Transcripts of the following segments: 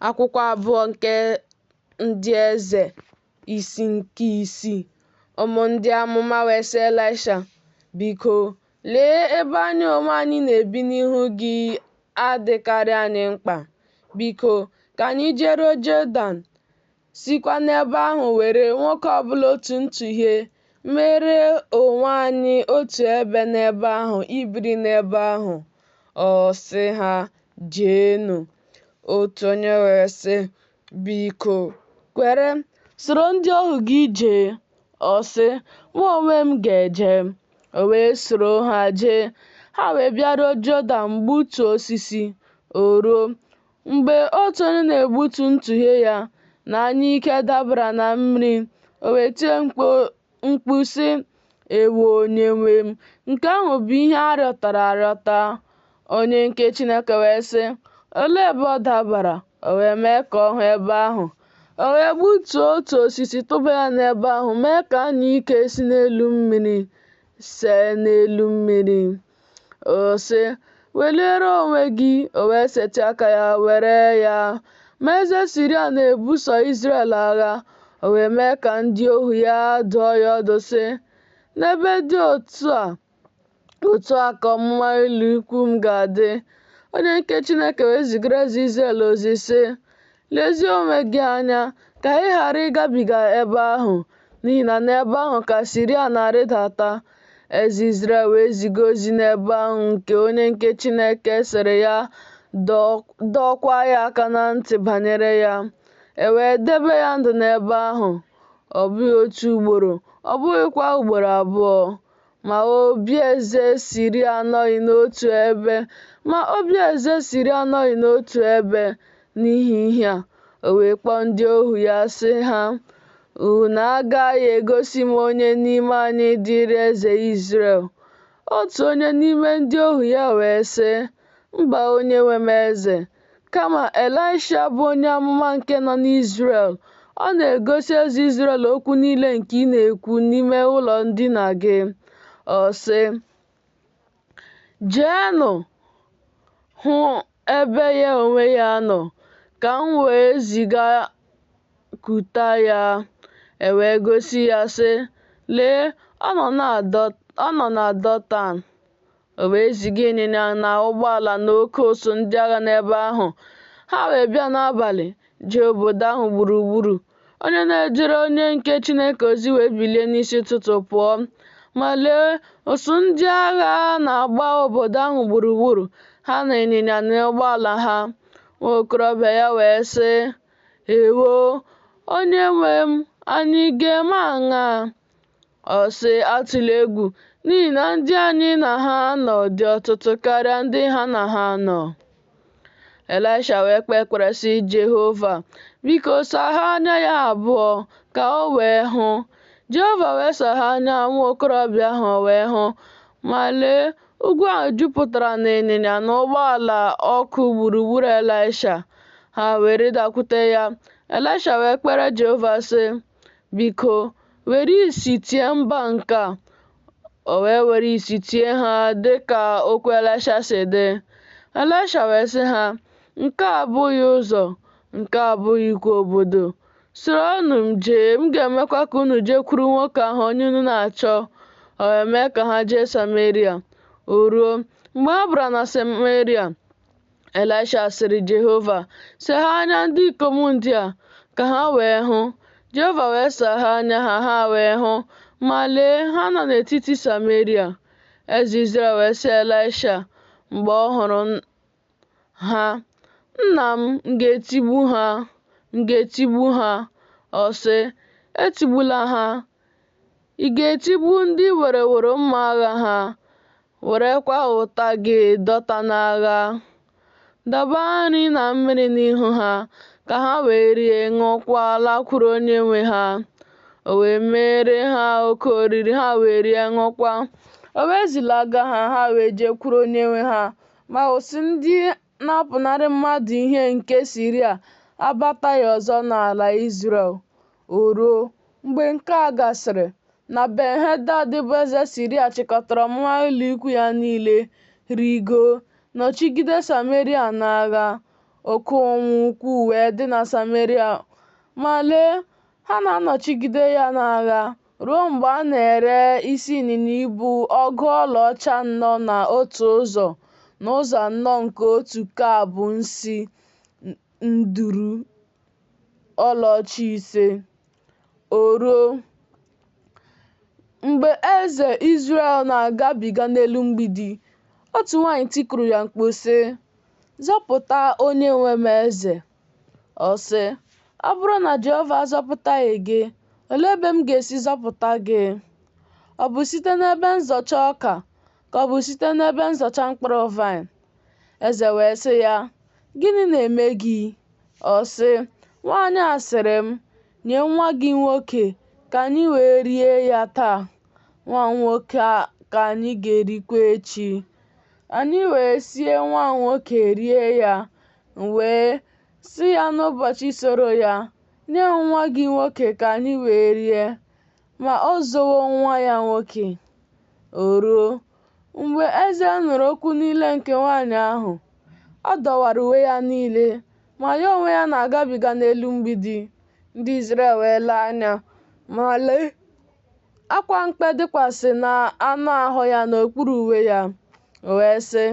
Akwụkwọ abụọ nke ndị eze isi nke isii. Ụmụ ndị amụma wee sị Elaisha, Biko, lee ebe anyị onwe anyị na-ebi n'ihu gị adịkarị anyị mkpa. Biko, ka anyị jeruo Jọdan. sikwa n'ebe ahụ were nwoke ọbụla otu ntụhie mere onwe anyị otu ebe n'ebe ahụ ibiri n'ebe ahụ ọ sị ha jeenụ otu onye wee sị biko kwere soro ndị ohu gị jee ọ sị mụ onwe m ga-eje o wee soro ha jee ha wee bịaruo Jọdan gbutuo osisi o ruo Mgbe otu onye na-egbutu ntụhie ya na anyụike dabara na mmiri, o wee tie mkpu sị, Ewo onyenwe m, nke ahụ bụ ihe a rịọtara arịọta. Onye nke Chineke wee sị, Olee ebe ọ dabara? O wee mee ka ọ hụ ebe ahụ. O wee gbutuo otu osisi tụba ya n'ebe ahụ mee ka anyụike si n'elu mmiri see n'elu mmiri. Ọ sị, Weliere onwe gị, o wee setị aka ya were ya. Ma eze Siria na-ebuso Izrel agha, o wee mee ka ndị ohu ya dụọ ya ọdụ sị, N'ebe dị otu a, otu a ka ọmụma ụlọikwu m ga-adị. Onye nke Chineke wee zigara eze Izrel ozi sị, Lezie onwe gị anya ka ị ghara ịgabiga ebe ahụ, n'ihi na n'ebe ahụ ka Siria na-arịdata. Eze Izrel wee ziga ozi n'ebe ahụ nke onye nke Chineke sịrị ya dọọkwa ya aka na ntị banyere ya, e wee debe ya ndụ n'ebe ahụ, ọ bụghị otu ugboro, ọ bụghịkwa ugboro abụọ, Ma obi eze Siria anọghị n'otu ebe, ma obi eze Siria anọghị n'otu ebe n'ihi ihe a. O wee kpọọ ndị ohu ya sị ha, Unu agaghị egosi m onye n'ime anyị dịrị eze Izrel? Otu onye n'ime ndị ohu ya wee sị, Mba, onyenwe m eze, Kama, Elaịsha bụ onye amụma nke nọ n'Izrel. Ọ na-egosi eze Izrel okwu niile nke ị na-ekwu n'ime ụlọ ndina gị. Ọ sị, Jeenụ hụ ebe ya onwe ya nọ, ka m wee ziga kuta ya. E wee gosi ya, sị, Lee, ọ nọ na Dọtan. O wee ziga ịnyịnya na ụgbọala na oke ụsụ ndị agha n'ebe ahụ. Ha wee bịa n'abalị, jee obodo ahụ gburugburu. Onye na-ejere onye nke Chineke ozi wee bilie n'isi ụtụtụ pụọ. Ma lee, ụsụ ndị agha na-agba obodo ahụ gburugburu, ha na ịnyịnya na ụgbọala ha. Nwa okorobịa ya wee sị, Ewo, onye nwe m, anyị ga-eme aṅaa? Ọ sị, Atụla egwu, n'ihi na ndị anyị na ha nọ dị ọtụtụ karịa ndị ha na ha nọ. Elaịsha wee kpee ekpere sị Jehova, Biko, saghee anya ya abụọ ka o wee hụ. Jehova wee saghee anya nwa okorobịa ahụ o wee hụ. Ma lee, ugwu ahụ jupụtara n'ịnyịnya na ụgbọala ọkụ gburugburu Elaịsha. Ha wee rịdakwute ya. Elaịsha wee kpere Jehova, sị, Biko, were isi tie mba nke a. O wee were isi tie ha dị ka okwu Elaịsha si dị. Elaịsha wee sị ha, Nke a abụghị ụzọ, nke a abụghịkwa obodo. Soronụ m jee, m ga-emekwa ka unu jekwuru nwoke ahụ onye unu na-achọ. O wee mee ka ha jee Sameria. O ruo, mgbe ha bara na Sameria, Elaịsha sịrị Jehova, saghee anya ndị ikom ndị a ka ha wee hụ. Jehova wee saghee anya ha, ha wee hụ, ma lee, ha nọ n'etiti Sameria. Eze Izrel wee sị Elaịsha mgbe ọ hụrụ ha, Nna m, m ga-etigbu ha, m ga-etigbu ha. Ọ sị, Etigbula ha. Ị ga-etigbu ndị i wereworo mma agha ha, Werekwa ụta gị dọta n'agha. Dọba nri na mmiri n'ihu ha, ka ha wee rie, ṅụọkwa, lakwuru onye nwe ha. O wee meere ha oke oriri, ha wee rie, ṅụọkwa. O wee zilaga ha, ha wee jekwuru onye nwe ha. Ma ụsụ ndị na-apụnarị mmadụ ihe nke Siria abataghị ọzọ n'ala Izrel. O ruo, mgbe nke a gasịrị, na Ben-hedad bụ eze Siria chịkọtara ọmụma ụlọikwu ya niile, rigoo, nọchigide Sameria n'agha, oke ụnwụ ukwuu wee dị na Sameria, ma lee, ha na-anọchigide ya n'agha. ruo mgbe a na-ere isi ịnyịnya ibu ọgụ ọlaọcha anọ na otu ụzọ n'ụzọ anọ nke otu kab nsi nduru ọlaọcha ise. O ruo, mgbe eze Izrel na-agabiga n'elu mgbidi, otu nwanyị tikuru ya mkpu, sị, Zọpụta onye nwe m eze! Ọ sị, Ọ bụrụ na Jehova azọpụtaghị gị, olee ebe m ga-esi zọpụta gị? Ọ bụ site n'ebe nzọcha ọka ka ọ bụ site n'ebe nzọcha mkpụrụ vaịn? Eze wee sị ya, Gịnị na-eme gị? Ọ sị, Nwaanyị a sịrị m, Nye nwa gị nwoke ka anyị wee rie ya taa, nwa m nwoke ka anyị ga-erikwa echi. Anyị wee sie nwa m nwoke rie ya, M wee sị ya n'ụbọchị soro ya, Nye nwa gị nwoke ka anyị wee rie. Ma o zowo nwa ya nwoke. O ruo, mgbe eze nụrụ okwu niile nke nwaanyị ahụ, ọ dọwara uwe ya niile, ma ya onwe ya na-agabiga n'elu mgbidi. Ndị Izrel wee lee anya, ma lee, Akwa mkpe dịkwasị n'anụ ahụ ya n'okpuru uwe ya. O wee sị,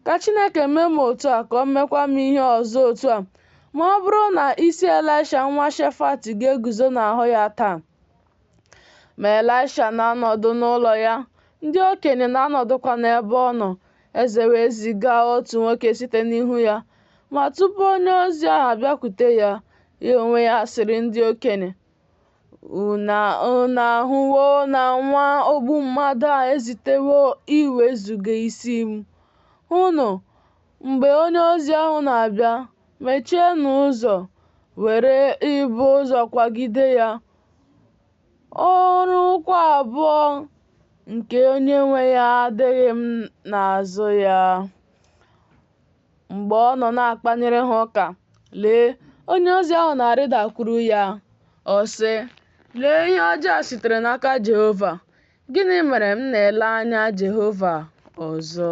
Ka Chineke mee m otu a ka o mekwa m ihe ọzọ otu a ma ọ bụrụ na isi Elaisha nwa Shefat ga-eguzo n'ahụ ya taa. Ma Elaisha na-anọdụ n'ụlọ ya, ndị okenye na-anọdụkwa n'ebe ọ nọ. Eze wee ziga otu nwoke site n'ihu ya. Ma tupu onye ozi ahụ abịakwute ya, ya onwe ya sịrị ndị okenye, Unu ahụwo na nwa ogbu mmadụ a ezitewo iwezuga isi m. Hụnụ, mgbe onye ozi ahụ na-abịa, mechienụ ụzọ, were ibo ụzọ kwagide ya. Ọrụ ụkwụ abụọ nke onye nwe ya adịghị n'azụ ya. Mgbe ọ nọ na-akpanyere ha ụka, lee, onye ozi ahụ na-arịdakwuru ya. Ọ sị, Lee ihe ọjọọ a sitere n'aka Jehova! Gịnị mere m na-ele anya Jehova ọzọ?